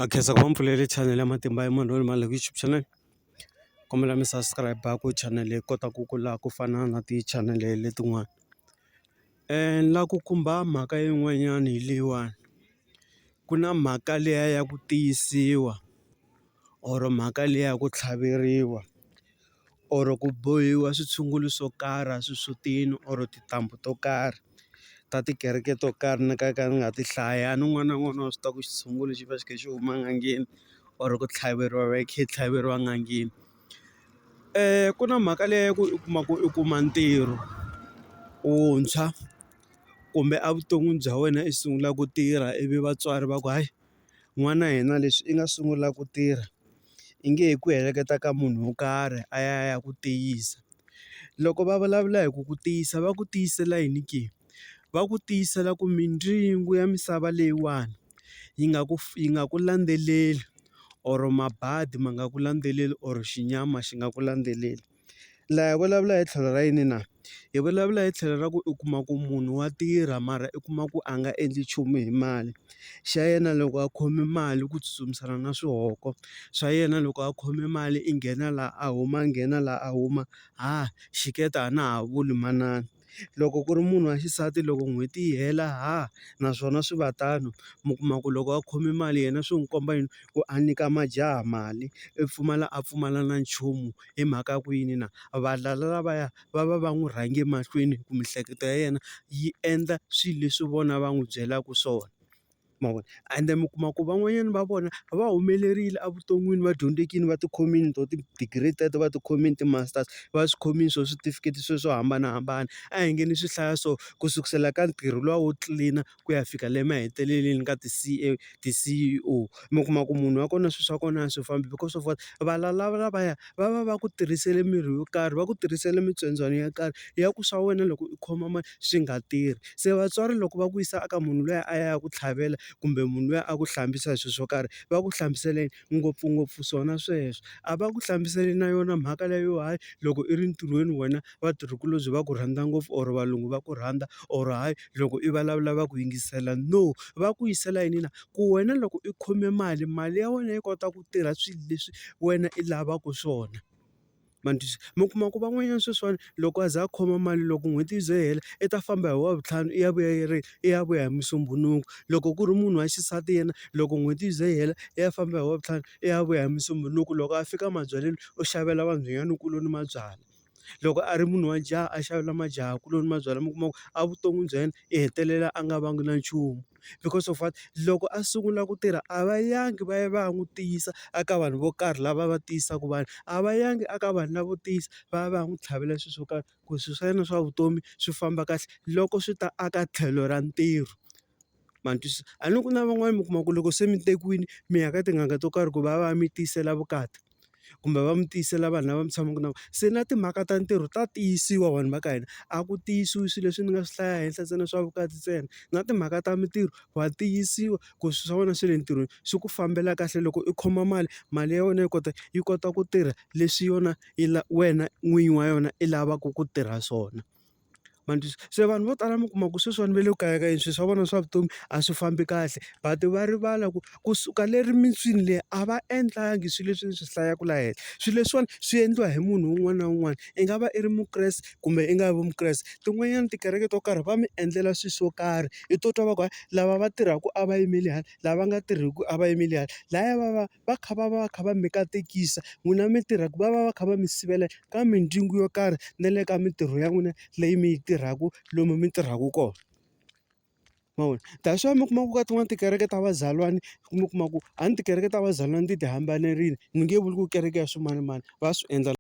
a khensa ku va mpfulele channel ya matimba ya munhu loyi ni mani loko YouTube channel kombela mi subscribe ku channel yi kota ku kula ku fana na ti channel letin'wana ni la ku khumba mhaka yin'wanyana hi leyiwani ku na mhaka liya ya ku tiyisiwa or mhaka liya ya ku tlhaveriwa. or ku bohiwa switshungulo swo karhi a xisutini or tintambu to karhi ta tikereke to karhi ni nga ka ni nga ti hlaya a ni n'wana na n'wana wa swi tiva ku xitshungulo xi va xi kha xi huma en'angeni or ku tlhaveriwa va yi kha yi tlhaveriwa n'angeni ku na mhaka leyi ya ku u kuma ku u kuma ntirho wuntshwa kumbe a vuton'wini bya wena i sungula ku tirha ivi vatswari va ku hayi. n'wana hina leswi i nga sungula ku tirha i nge he ku heleketa ka munhu wo karhi a ya a ya ku tiyisa loko va vulavula hi ku ku tiyisa va ku tiyisela yini ke va ku tiyisela ku mindyangu ya misava leyiwani yi nga ku yi nga ku landzeleli or mabadi ma nga ku landzeleli or xinyama xi nga ku landzeleli. laha hi vulavula hi tlhelo ra yini na? Hi vulavula hi tlhelo ra ku u kuma ku munhu wa tirha mara u kuma ku a nga endli nchumu hi mali. Xa yena loko a khome mali ku tsutsumisana na swihoko, xa yena loko a khome mali i nghena laha a huma a nghena laha a huma, ha xiketa a na ha vuli manana. loko ku ri munhu wa xisati loko n'hweti yi hela ha naswona swi va tano mi kuma ku loko a khome mali yena swi n'wi komba yini ku a nyika majaha mali i pfumala a pfumala na nchumu hi mhaka ya ku yini na valala lavaya va va va n'wi rhange mahlweni ku miehleketo ya yena yi endla swilo leswi vona va n'wi byelaka swona. ma vona ende mi kuma ku van'wanyana va vona va humelerile evuton'wini va dyondzekile va tikhomile to ti-degree teto va tikhomile ti-masters va swi khomile swo switifiketi sweswo swo hambanahambana, a hi nge ni swi hlaya so ku sukusela ka ntirho luwa wo tlilina ku ya fika le maheteleleni ka ti-C_A ti-C_E_O mi kuma ku munhu wa kona swilo swa kona a swi fambi because of what valala lavaya va va va ku tirhisele mirhi yo karhi va ku tirhisela mitsondzwana yo karhi ya ku swa wena loko u khoma mali swi nga tirhi. Se vatswari loko va ku yisa eka munhu luya a ya ku tlhavela kumbe munhu luya a ku hlambisa hi swilo swo karhi, va ku hlamusela yini? Ngopfungopfu swona sweswo. A va ku hlamusela na yona mhaka leyi yo hayi loko i ri ntirhweni wena vatirhikulobye va ku rhandza ngopfu or valungu va ku rhandza or hayi loko i vulavula va ku yingisela. No, va ku yisela yini na? Ku wena loko i khome mali, mali ya wena yi kota ku tirha swilo leswi wena i lavaka swona. ma ni twisisa. Mi kuma ku van'wanyana sweswiwani loko a za a khoma mali loko n'hweti yi ze yi hela i ta famba hi wavuntlhanu i ya vuya yi ri i ya vuya hi musumbhunuku. Loko ku ri munhu wa xisati yena loko n'hweti yi ze yi hela i ya famba hi wavuntlhanu i ya vuya hi musumbhunuku. Loko a fika mabyaleni u xavela vanhwanyanakuloni mabyalwa, loko a ri munhu wa jaha a xavela majahakuloni mabyalwa mi kuma ku a vuton'wini bya yena i hetelela a nga vangi na nchumu. because of what? Loko a sungula ku tirha a va yangi va ya va ya n'wi tiyisa eka vanhu vo karhi lava va tiyisaka vanhu, a va yangi eka vanhu lavo tiyisa va ya va ya n'wi tlhavela swilo swo karhi ku swilo swa yena swa vutomi swi famba kahle loko swi ta aka tlhelo ra ntirho. Ma ni twisisa? A ni ri ku na van'wani mi kuma ku loko se mi tekiwile mi ya ka tin'anga to karhi ku va va ya mi tiyisela vukati. kumbe va mi tiyisela vanhu lava mi tshamaka na vona. Se na timhaka ta ntirho ta tiyisiwa vanhu va ka hina, a ku tiyisiwi swilo leswi ni nga swi hlaya henhla ntsena swa vukati ntsena. Na timhaka ta mintirho wa tiyisiwa ku swilo swa wena swa le ntirhweni swi ku fambela kahle loko u khoma mali, mali ya wena yi kota yi kota ku tirha leswi yona yi wena n'winyi wa yona i lavaka ku tirha swona. ma ni twisa se vanhu vo tala mi kuma ku sweswiwani va le ku kayakayeni swilo swa vona swa vutomi a swi fambi kahle but va rivala ku kusuka le rimitswini leri a va endlangi swilo leswi ni swi hlayaka laha henhla swilo leswiwani swi endliwa hi munhu un'wana na un'wana i nga va i ri mukreste kumbe i nga vi mukreste tin'wanyana tikereke to karhi va mi endlela swilo swo karhi i to twa va ku lava va tirhaka a va yimeli hala lava nga tirhiki a va yimeli hala lahaya va va. va kha va va va kha va mi katekisa n'wina mi tirhaka va va va kha va mi sivela ka mindyangu yo karhi na le ka mintirho ya n'wina leyi mi yi tirhaka lomu mi tirhaka kona ma vona that's why mi kuma ku ka tin'wani tikereke ta vazalwana mi kuma ku a ni tikereke ta vazalwana ti ti hambanerile ni nge vuli ku kereke ya swimanimani va swi endla.